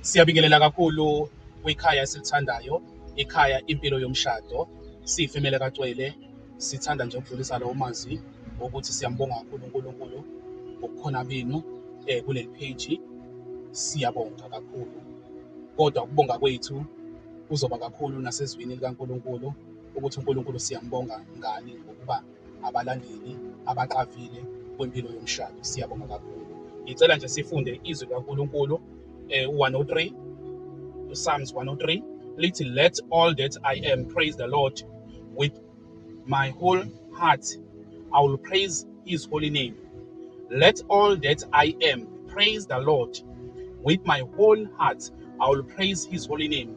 Siyabingelela kakhulu kwikhaya esilithandayo, ikhaya impilo yomshado. Siyifemele kacwele, sithanda nje ukudlulisa lowo mazwi wokuthi siyambonga kakhulu uNkulunkulu ngokukhona benu eh kuleli page. Siyabonga kakhulu. Kodwa ukubonga kwethu kuzoba kakhulu nasezwini likaNkulunkulu ukuthi uNkulunkulu siyambonga ngani ngokuba abalandeli abaqavile kwempilo yomshado. Siyabonga kakhulu. Ngicela nje sifunde izwi kaNkulunkulu eh, u-103 uPsalms 103 lithi let all that I am praise the Lord with my whole heart I will praise his holy name. Let all that I am praise the Lord with my whole heart I will praise his holy name.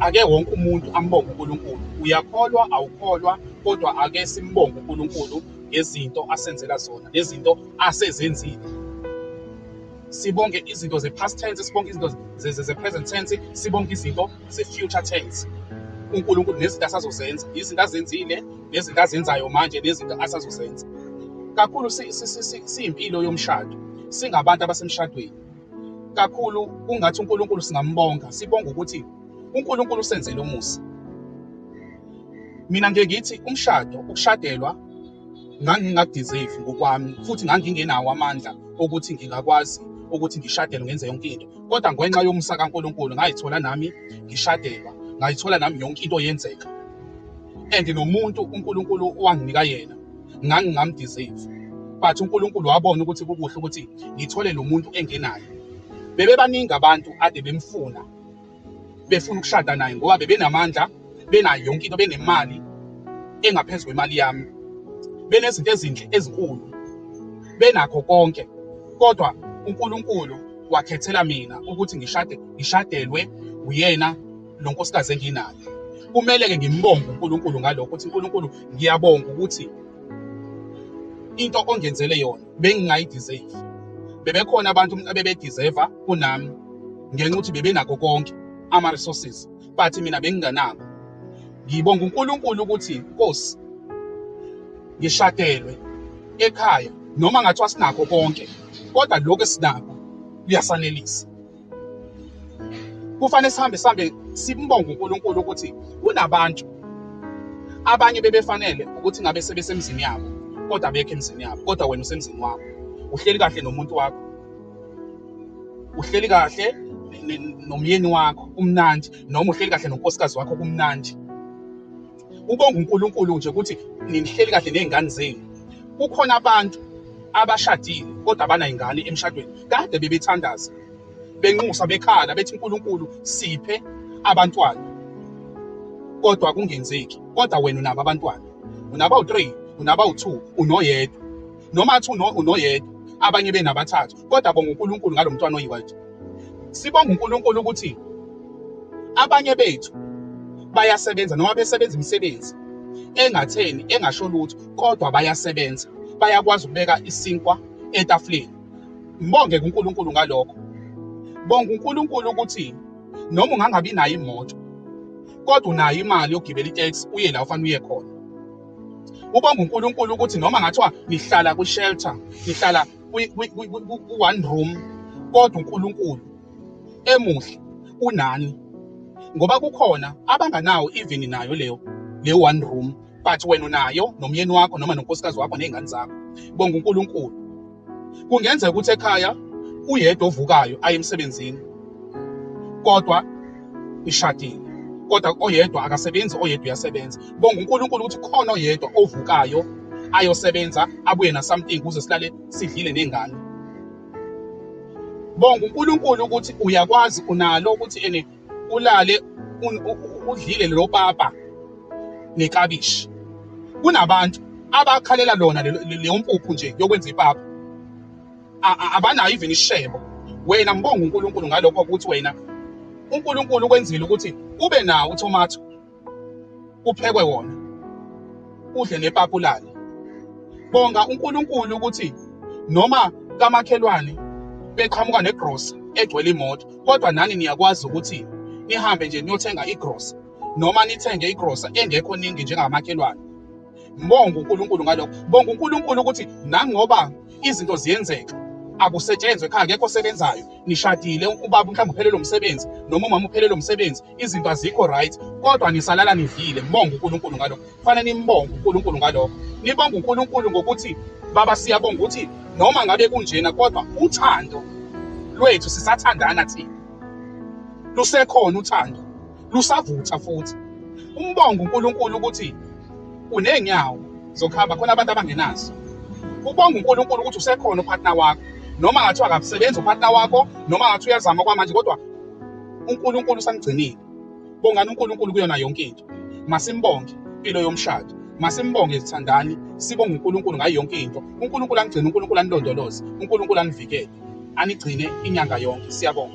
ake wonke umuntu ambonge uNkulunkulu uyakholwa awukholwa kodwa ake simbonge uNkulunkulu ngezinto asenzela zona nezinto asezenzile sibonge izinto ze-past tense sibonge izinto ze-present tense sibonge izinto ze-future tense uNkulunkulu nezinto asazozenza izinto azenzile nezinto azenzayo manje nezinto asazozenza kakhulu siyimpilo yomshado singabantu abasemshadweni kakhulu ungathi uNkulunkulu singambonga sibonga ukuthi uNkulunkulu usenzele umusa mina ngeke ngithi umshado ukushadelwa ngangingakudeserve ngokwami futhi ngangingenawo amandla okuthi ngingakwazi ukuthi ngishadelwe ngenze yonke into kodwa ngenxa yomusa kaNkulunkulu ngayithola nami ngishadelwa ngayithola nami yonke into yenzeka and nomuntu uNkulunkulu wanginika yena ngangingamdeserve but uNkulunkulu wabona ukuthi kukuhle ukuthi ngithole lo muntu engenayo bebebaningi abantu ade bemfuna befuna ukushada naye ngoba bebenamandla benayo yonke into benemali engaphezu kwemali yami benezinto ezinhle ezinkulu benakho konke kodwa uNkulunkulu wakhethela mina ukuthi ngishade ngishadelwe uyena lo nkosikazi enginayo kumele-ke ngimbonge unkulunkulu ngalokho ukuthi unkulunkulu ngiyabonga ukuthi into ongenzele yona bengingayideserve bebekhona abantu abebediseva kunami ngenxa ukuthi bebenako konke ama-resources but mina benginganako ngibonga unkulunkulu ukuthi nkosi ngishadelwe ekhaya noma ngathiwa sinakho konke kodwa lokhu esinakho kuyasanelisa kufanele sihambe sihambe simbonga uNkulunkulu ukuthi kunabantu abanye bebefanele ukuthi ngabe sebesemzini yabo kodwa abekho emzini yabo kodwa wena usemzini wakho uhleli kahle nomuntu wakho uhleli kahle nomyeni wakho kumnandi noma uhleli kahle nonkosikazi wakho kumnandi ubonga uNkulunkulu nje ukuthi ninihleli kahle nezingane zenu kukhona abantu abashadile kodwa abanayingane emshadweni kade bebethandaza benxusa bekhala bethi uNkulunkulu siphe abantwana kodwa kungenzeki kodwa wena unabo abantwana unaba u3 unaba u2 unoyedwa noma athi unoyedwa abanye benabathathu kodwa bonga uNkulunkulu ngalomntwana oyiwathi Sibonga uNkulunkulu ukuthi abanye bethu bayasebenza noma besebenza imisebenzi engatheni engasho lutho kodwa bayasebenza bayakwazi ukubeka isinkwa etafuleni mbonge kuNkulunkulu ngalokho bonga uNkulunkulu ukuthi noma ungangabi nayo imoto kodwa unayo imali yokugibela itex uye la ufanele uye khona ubonga uNkulunkulu ukuthi noma ngathiwa nihlala kwi-shelter nihlala ku-one room kodwa uNkulunkulu emuhle unani ngoba kukhona abanganawo even nayo leyo le one room but wena unayo nomyeni wakho noma nonkosikazi wakho nezingane zakho bonga uNkulunkulu kungenzeka ukuthi ekhaya uyedwa ovukayo aye emsebenzini kodwa ishadile kodwa oyedwa akasebenzi oyedwa uyasebenza bonga uNkulunkulu ukuthi khona oyedwa ovukayo ayosebenza abuye na something kuze silale sidlile nengane bonga uNkulunkulu ukuthi uyakwazi unalo ukuthi ene ulale udlile lo papa nekabishi kunabantu abakhalela lona leyo mpuphu nje yokwenza ipapa abanayo even ishebo wena mbonga uNkulunkulu ngalokho ukuthi wena uNkulunkulu kwenzile ukuthi ube nawo uThomatho kuphekwe wona udle nepapulala bonga uNkulunkulu ukuthi noma kamakhelwane beqhamuka negrosa egcwele imoto kodwa nani niyakwazi ukuthi nihambe nje niyothenga igrosa noma nithenge igrosa engekho ningi njengamakhelwane mbonga uNkulunkulu ngalokho bonga uNkulunkulu ukuthi nangoba izinto ziyenzeka akusetshenzwe ekhaya akekho osebenzayo nishadile ubaba mhlawumbe uphelele umsebenzi noma umama uphelele umsebenzi izinto azikho right kodwa nisalala nidlile mbonga uNkulunkulu ngalokho kufanele nimbonge uNkulunkulu ngalokho nibonga uNkulunkulu ngokuthi baba siyabonga ukuthi noma ngabe kunjena kodwa uthando lwethu sisathandana thina lusekhona uthando lusavutha futhi umbonga uNkulunkulu ukuthi unenyawo zokuhamba khona abantu abangenazo ubonga uNkulunkulu ukuthi usekhona upartner wakho noma ngathi akasebenzi upartner wakho noma ngathi uyazama kwamanje kodwa uNkulunkulu usamgcinile bongani uNkulunkulu kuyona yonke into masimbonge impilo yomshado masimbonge sithandani sibonge uNkulunkulu ngayo yonke into uNkulunkulu angigcine uNkulunkulu anilondoloze uNkulunkulu anivikele anigcine inyanga yonke siyabonga